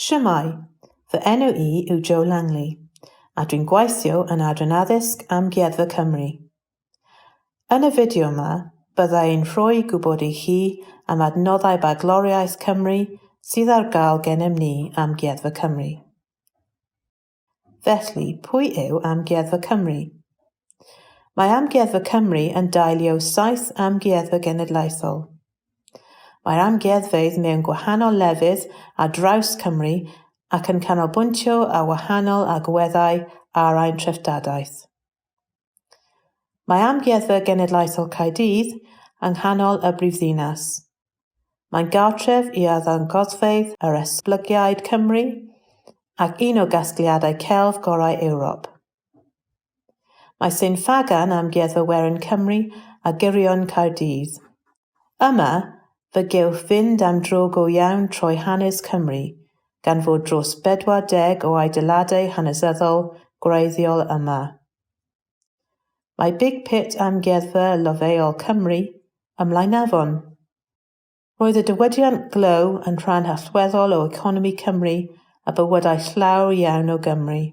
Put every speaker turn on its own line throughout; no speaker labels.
Shwmae! Fy enw i yw Joe Langley, a dwi'n gweithio yn Adran Addysg Amgueddfa Cymru. Yn y fideo yma, bydda i'n rhoi gwybod i chi am adnoddau bagloriaeth Cymru sydd ar gael gennym ni Amgueddfa Cymru. Felly, pwy yw Amgueddfa Cymru? Mae Amgueddfa Cymru yn dailio saith amgueddfa genedlaethol. Mae'r amgueddfeydd mewn gwahanol lefydd ar draws Cymru ac yn canolbwyntio ar wahanol agweddau ar ein treftadaeth. Mae Amgueddfa Genedlaethol Caerdydd yng nghanol y brifddinas. Mae'n gartref i arddangosfeydd yr esblygiad Cymru ac un o gasgliadau celf gorau Ewrop. Mae Sain Ffagan, Amgueddfa Werin Cymru a Gyrion Caerdydd, Yma, fe gewch fynd am dro go iawn trwy hanes Cymru, gan fod dros 40 o adeiladau hanesyddol gwreiddiol yma. Mae Big Pit Amgueddfa Lofeol Cymru ym Mlaenafon. Roedd y diwydiant glow yn rhan allweddol o economi Cymru a bywydau llawer iawn o Gymry.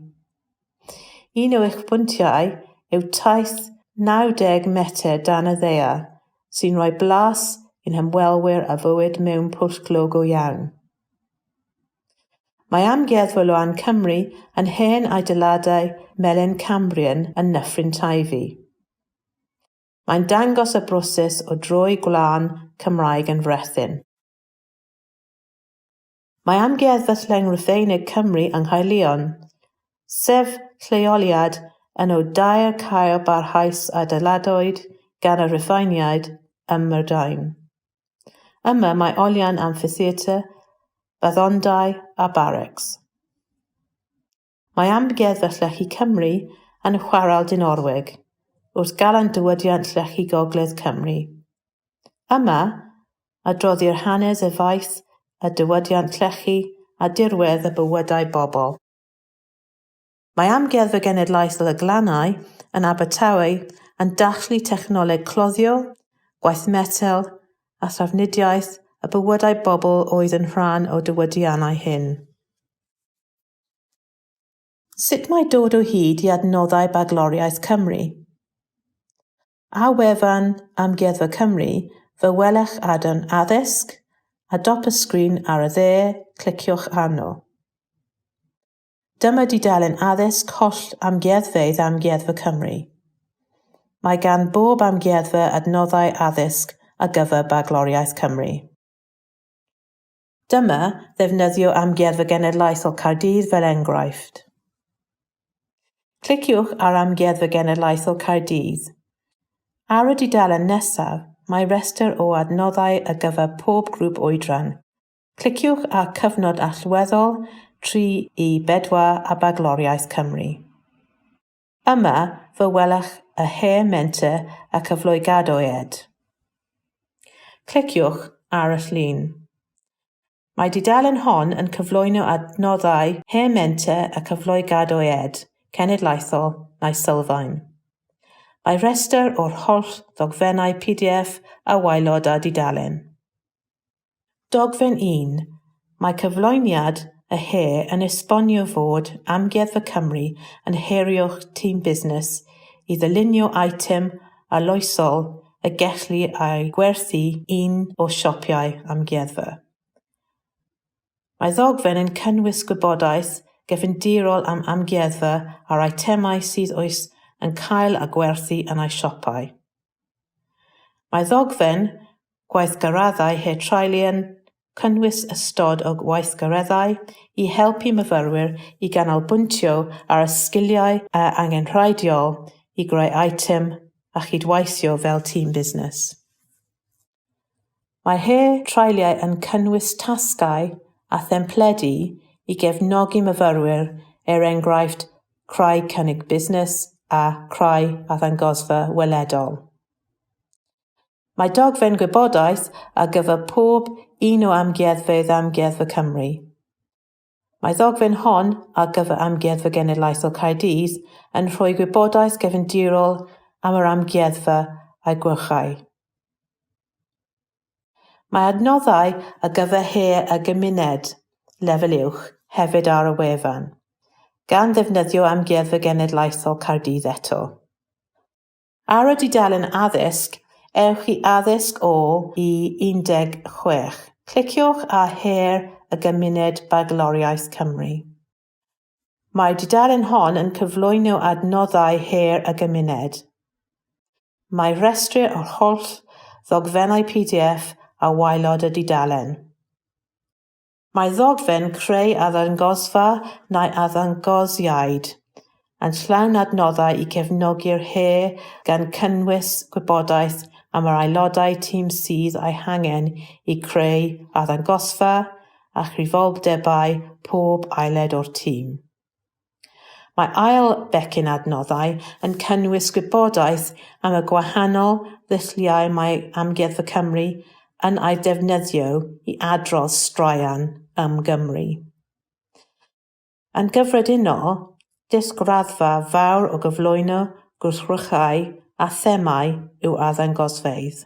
Un o eich pwyntiau yw taith 90 metr dan y ddaear, sy'n rhoi blas i'n hymwelwyr ar fywyd mewn pwll glo go iawn. Mae Amgueddfa Loan Cymru yn hen adeiladau melin Cambrian yn Nyffryn Teifi. Mae'n dangos y broses o droi gwlân Cymraeg yn frethyn. Mae Amgueddfa Sling Rufeinig Cymru yng Nghaerllion, sef lleoliad un o dair caeau barhaus a adeiladwyd gan y Rhufeiniaid ym Mhrydain. Yma mae olion amffitheatr, baddondai a barracks. Mae Amgueddfa Llechi Cymru yn Chwarel Dinorwig, wrth Galan Diwydiant Llechi Gogledd Cymru. Yma, adroddir hanes y faes a diwydiant llechi a dirwedd y bywydau bobl. Mae Amgueddfa Genedlaethol y Glannau yn Abertawe yn dathlu technoleg cloddio, gwaith metel a thrafnidiaeth y bywydau bobl oedd yn rhan o diwydiannau hyn. Sut mae dod o hyd i adnoddau Bagloriaeth Cymru? A wefan Amgueddfa Cymru, fe welech adran Addysg, a dop y sgrin ar y dde, cliciwch arno. Dyma dudalen addysg holl amgueddfeydd Amgueddfa Cymru. Mae gan bob amgueddfa adnoddau addysg ar gyfer Bagloriaeth Cymru. Dyma ddefnyddio Amgueddfa Genedlaethol Caerdydd fel enghraifft. Cliciwch ar Amgueddfa Genedlaethol Caerdydd. Ar y dudalen nesaf, mae rhestr o adnoddau ar gyfer pob grŵp oedran. Cliciwch ar Cyfnod Allweddol, 3 i 4 a Bagloriaeth Cymru. Yma fe welwch y Her Menter a Cyfleu Gadoed. Cliciwch ar y llun. Mae dudalen hon yn cyflwyno adnoddau Her Menter a Cyfleu Gadoed, cenedlaethol neu sylfaen. Mae rhestr o'r holl ddogfennau pdf a waelod â dudalen. Dogfen 1, Mae cyflwyniad y he yn esbonio fod Amgueddfa Cymru yn herio'ch tîm busnes i ddylunio eitem arloesol y gellir ei gwerthu un o siopau amgueddfa. Mae ddogfen yn cynnwys gwybodaeth gefndirol am amgueddfa a'r eitemau sydd oes yn cael a gwerthu yn ei siopau. Mae ddogfen gweithgareddau Her Trialu yn cynnwys ystod o weithgareddau i helpu myfyrwyr i ganolbwyntio ar y sgiliau angenrheidiol i greu eitem a chydweithio fel tîm busnes. Mae her treuliau yn cynnwys tasgau a thempledi i gefnogi myfyrwyr, er enghraifft Creu Cynnig Busnes a Creu Arddangosfa Weledol. Mae dogfen gwybodaeth ar gyfer pob un o amgueddfeydd Amgueddfa Cymru. Mae ddogfen hon ar gyfer Amgueddfa Genedlaethol Caerdydd yn rhoi gwybodaeth gefndirol am yr amgueddfa a'i gwyrchau. Mae adnoddau ar gyfer her a gymuned, lefel uwch, hefyd ar y wefan, gan ddefnyddio Amgueddfa Genedlaethol Caerdydd eto. Ar y dudalen Addysg, ewch i Addysg 0 i 16. Cliciwch ar Her y Gymuned Bagloriaeth Cymru. Mae'r dudalen hon yn cyflwyno adnoddau her y gymuned. Mae rhestri o'r holl ddogfennau pdf a waelod y dudalen. Mae ddogfen creu arddangosfa neu arddangosiad yn llawn adnoddau i gefnogi'r her gan gynnwys gwybodaeth am yr aelodau tîm sydd eu hangen i greu arddangosfa a chyfrifoldebau pob aelod o'r tîm. Mae ail becyn adnoddau yn cynnwys gwybodaeth am y gwahanol ddulliau mae Amgueddfa Cymru yn eu defnyddio i adrodd straeon am Gymru. Yn gyffredinol, disg raddfa fawr o gyflwyno gwrthrychau a themâu yw arddangosfeydd.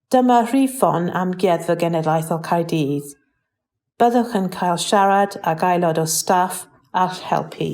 Dyma Rhifon Amgueddfa Genedlaethol Caerdydd. Byddwch yn cael siarad ag aelod o staff a'ch helpu.